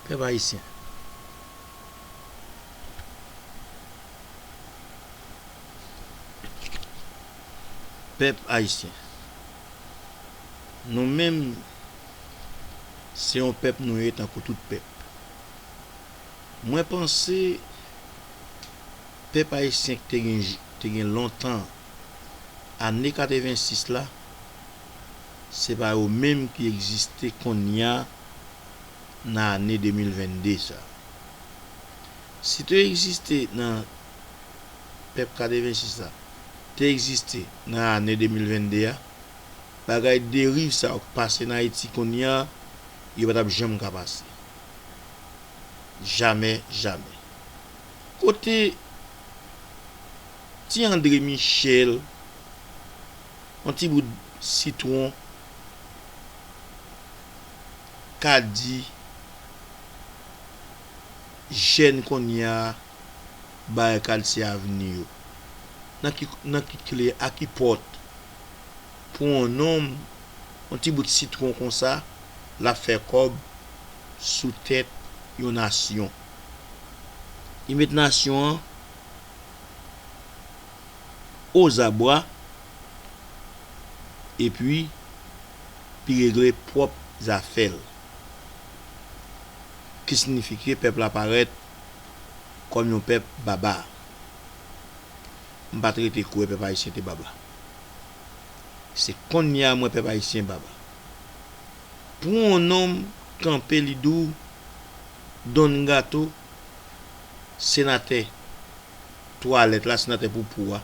Pèp Ayisyen. Pèp Ayisyen. Nou menm se yon pèp nou ye tankou tout pèp. Mwen panse pèp Ayisyen ki te gen lontan ane 86 la se pa yo menm ki egziste konnya nan ane 2022 sa. Si te egziste nan pèp 86 la te egziste nan ane 2022 a, bagay deriv sa yo k pase nan Ayiti konnya yo pa t ap janm ka pase. Jamè jamè. Kote ti Andre Michel? Yon ti bout sitwon ka di jèn konnya barikad se avni yo. Nan ki kle a ki pòt pou yon nonm yon ti bout sitwon konsa lap fè kòb sou tèt yon nasyon. Li met nasyon an. ozabwa epi li regle pwòp zafè l, ki signifike pèp la parèt kòm yon pèp baba. M pa t rete kwè pèp ayisyen te baba. Se kounye a m wè pèp ayisyen baba. Pou yon nonm kanpe li di w Don Gato, senatè twalèt la, senatè poupou a,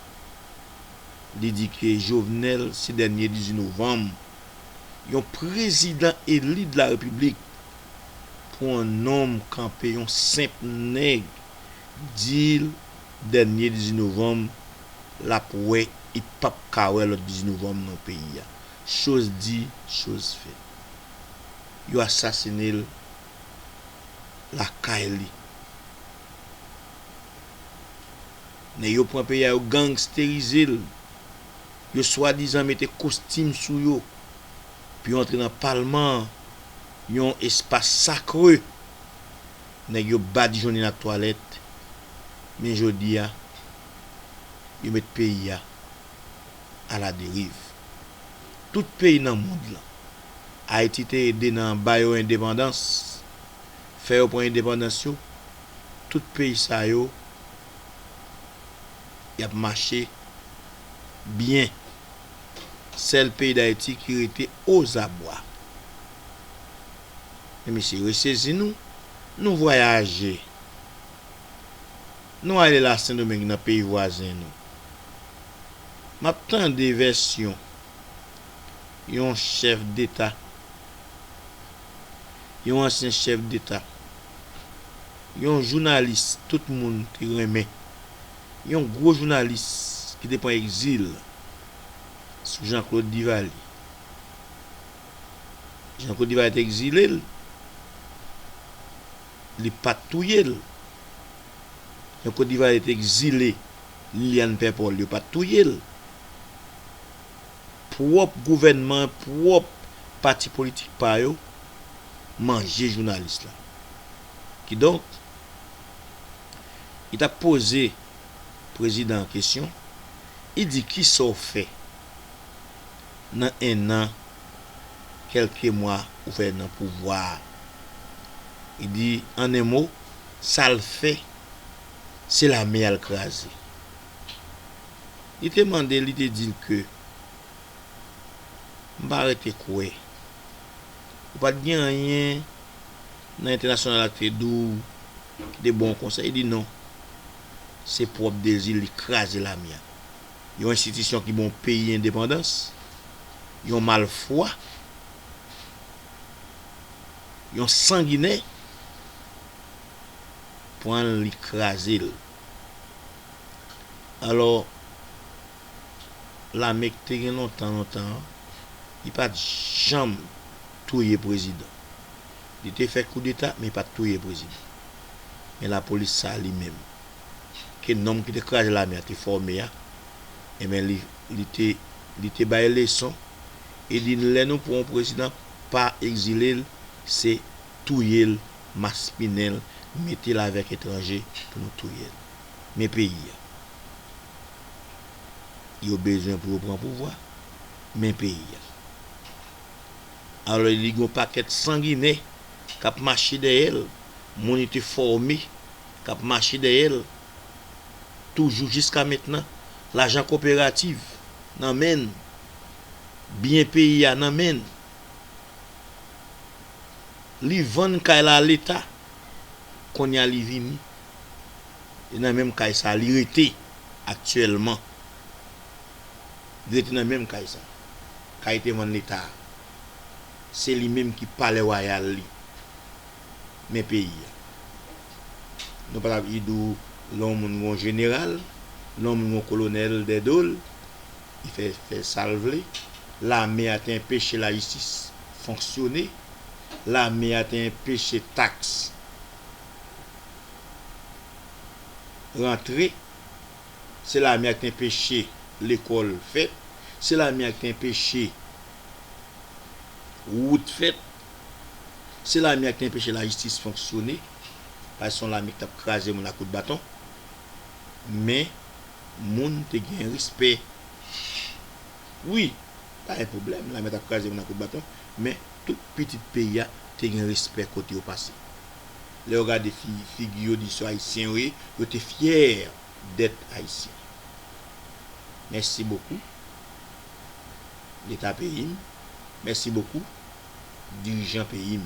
li di ke Jovenel se dènye 18 novanm, yon prezidan eli de la repiblik pou yon nonm kanpe, yon senp nèg di l dènye 18 novanm l ap wè e p ap ka wè lòt 18 novanm non peyi a. Choz di, choz fèt. Yo asasine l lakay li. Nèg yo pran peyi a yo gangsterize l, yo swadizan mete kostim sou yo pou yo antre nan palman an, yon espas sakre nèg yo badijonnen ak twalèt men jodi a yo met peyi a aladeriv. Tout peyi nan mond lan Ayiti te ede nan ba yo endepandans, fè yo pran endepandans yo, tout peyi sa yo y ap mache byen, sèl peyi Dayiti ki rete ozabwa. Men mesye resezi nou, nou vwayaje, nou ale la Sendomeng nan peyi vwazen nou, m ap tande vèsyon. yon chèf deta, yon ansyen chèf deta, yon jounalis tout moun te renmen, yon gwo jounalis ki te pran egzil sou Janklod Divalye. Janklod Divalye te egzile l, li pa t touye l. Janklod Divalye te egzile Liliane Pèpòl, yo pa t touye l. pwòp gouvènman pwòp pati politik pa yo manje jounalis la kidonk li tap poze prezidan an kesyon li di kisa w fè nan 1 an kelke mwa ou fè nan pouvwa a li di an 1 mo sal fè se lame al kraze. Li te mande, li te di l ke, M pa rete kwè. Ou pa t gen anyen nan entènasyonal la ki te di w ki te bon konsa? Li di, Non. Se pwòp dezi l li kraze lame a. Yon enstitisyon ki ba yon peyi endepandans, yon malfwa, yon sanginè, pran l li kraze l. Alò, lame k te gen lontan lontan an, li pa t janm touye prezidan. Li te fè koudeta, men li pa t touye prezidan. Men lapolis sa a li menm, ke nonm ki te kraze lame a te fòme a, enben li te bay leson, e li di lè nou pran yon prezidan, pa egzile l, se touye l maspinen l mete l avèk etranje pou nou touye l men peyi a yo bezwen pou yo pran pouvwa men peyi a alò li gen yon pakèt sanginen k ap mache dèyè l moun li te fòme k ap mache dèyè l toujou jiska mentnan lajan koperativ nan men l byen peyi a nan men l. Li vann kay la a leta. Konnya li vini. E nan menm kay sa a li rete aktyèlman. Li rete nan menm kay sa a. Kay te vann leta a. Se li menm ki palè wayal li. Men peyi a. Nou pa tap idou lè yon moun gen yon jeneral, lè yon moun gen yon kolonèl dè do l. Li fè fè sa l vle. Lame a te enpeche lajistis fonksyone. Lame a te enpeche taks rantre. Se lame a ki te enpeche lekòl fèt. Se lame a ki te enpeche wout fèt. Se lame a ki te enpeche lajistis fonksyone. Paske se yon lame ki t ap kraze moun ak kout baton. Men. Moun te gen respè wi pa gen pwoblèm lame tap kraze moun a kout baton men tout pitit peyi a te gen respè kote yo pase lè yo gade figi yo di se ayisyen yo ye yo te fyè dèt ayisyen mèsi bokou leta peyi m mèsi bokou dirijan peyi m.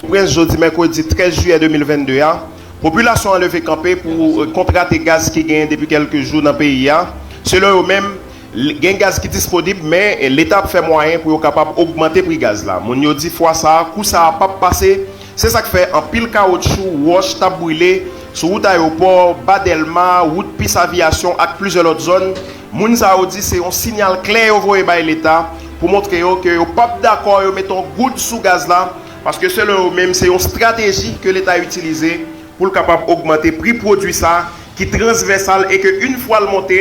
Pòtoprens, jodi mèkredi 13 jiyè 2022 a, popilasyon an leve kanpe pou kont rate gaz ki genyen depi kèlke jou nan peyi a. Selon yo menm, gen gaz ki disponib men leta ap fè mwayen pou yo kapab ogmante pri gaz la. Moun yo di fwa sa a, kou sa a pap pase, se sa k fè anpil kawotchou, wòch t ap brile sou wout ayopò, ba Dèlma, wout pis aviyasyon ak plizyè lòt zòn. Moun sa yo di se yon sinyal klè yo voye bay leta pou montre yo ke yo pap dakò yo mete yon goud sou gaz la paske selon yo menm se yon strateji ke leta itilize pou l kapab ogmante pri pwodwi sa ki transvèsal e ke yn fwa l monte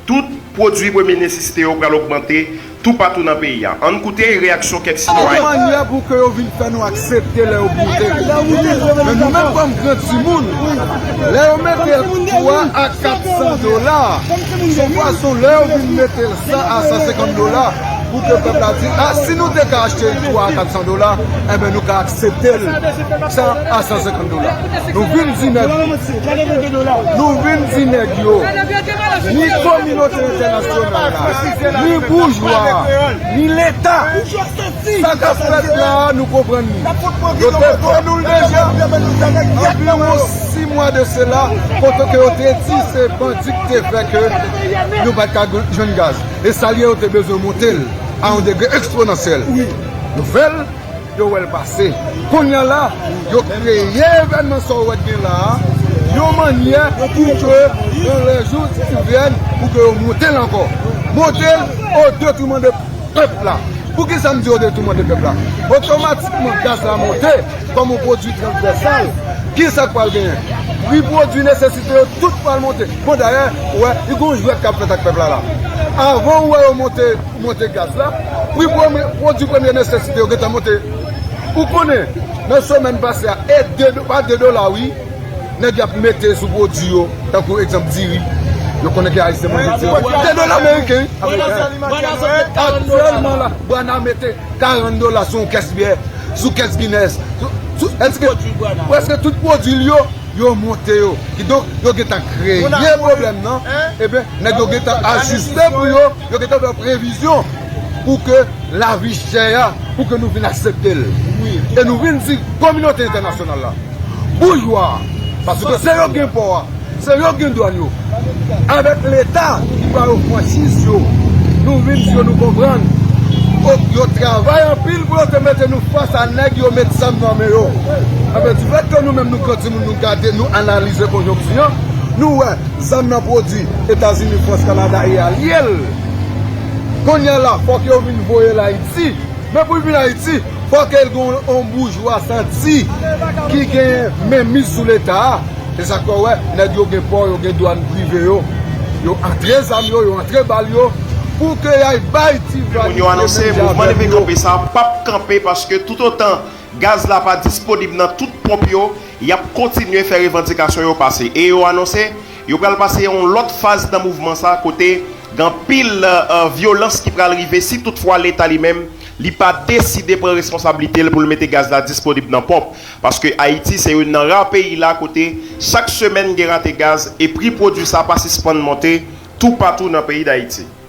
tout pwodwi premye nesisite yo pral ogmante toupatou nan peyi a. Ann koute reyaksyon kèk sitwayen. Yon manyè pou ke yo vin fè nou aksepte lè yo boule li. Men nou menm kòm gran timoun, lè yo mete 3 a 400 dola, son fason lè yo vin mete l 100 a 150 dola, pou ke pèp la di, a si nou te ka achte l 3 a 400 dola, enben nou ka aksepte l 100 a 150 dola. Nou vin di nèg yo. Nou vin di nèg yo. ni kominote entènasyonal la, ni boujwa a, ni leta, sa k ap fèt la a nou konprann li. Yo te vann nou l deja anviwon 6 mwa de sela kote ke yo te di se bandi ki te fè ke nou pa t ka jwenn gaz. E sa l ye yo te bezwen monte l a yon degre eksponansyèl. Nou fè l. Yo wèl pase. Konnya la yo kreye evènman sa ou wè k gen la a yon mannyè pou ke yon lè jou si l vyen pou ke yo monte l ankò. Monte l o detouman de pèp la. Poukisa m di o detouman de pèp la? Otomatikman gaz la monte kòm yon pwodui transvèsal. Kisa k pral genyen? Pri pwodui nesesite yo tout pral monte. Bon dayè ou wè gen yon jwèt k ap fèt ak pèp la la. Avan ou wè yo monte. Pou monte gaz la, pri pwodwi premye nesesite yo gentan monte. Ou konnen, nan semèn pase a, e pa 2 dola wi, nèg yo ap mete sou pwodwi yo, tankou egzanp diri, yo konnen ke ayisyen manje diri. 2 dola meriken wi, aktyèlman la, Bwana mete 40 dola sou yon kès byè, sou kès Guinness, sou prèske tout pwodwi l yo, yo monte yo. Kidonk, yo gentan kreye pwoblèm nan, enben, nèg yo gentan ajiste pou yo. Yo gentan fè previzyon pou ke lavi chè a, pou ke nou vin aksepte l. E nou vin di kominote entènasyonal la, boujwa, paske se yo ki gen pò a, se yo ki gen dwàn yo, avèk leta ki ba yo franchiz yo, nou vin di yo nou konprann, yo travay anpil pou yo te mete nou fas a nèg yo met zam nan men yo. Enben, difèt ke nou menm nou pran timoun nou gade, nou analize konjonkti an, nou wè. Zam nan pwodwi etazini frans kanada e alye l kounya la fòk yo vin voyel ayiti men poul vin ayiti fòk el gen yon boujwa santi ki gen menmiz sou leta a esak fè ou wè nèg yo gen pò yo gen dwàn prive yo yo antre zam yo yo antre bal yo pou ke yay bay ti vwa misye menm jan avèm yo. Y ap kontinye fè revandikasyon yo pase e yo anonse yo pral pase yon lòt faz nan mouvman sa kote gen anpil vyolans ki pral rive si tout fwa leta li menm li pa deside pran responsablite l pou l mete gaz la disponib nan ponp paske Ayiti se youn nan ra peyi la kote chak semèn gen rate gaz e pri pwodui sa pa sispann monte toupatou nan peyi Dayiti.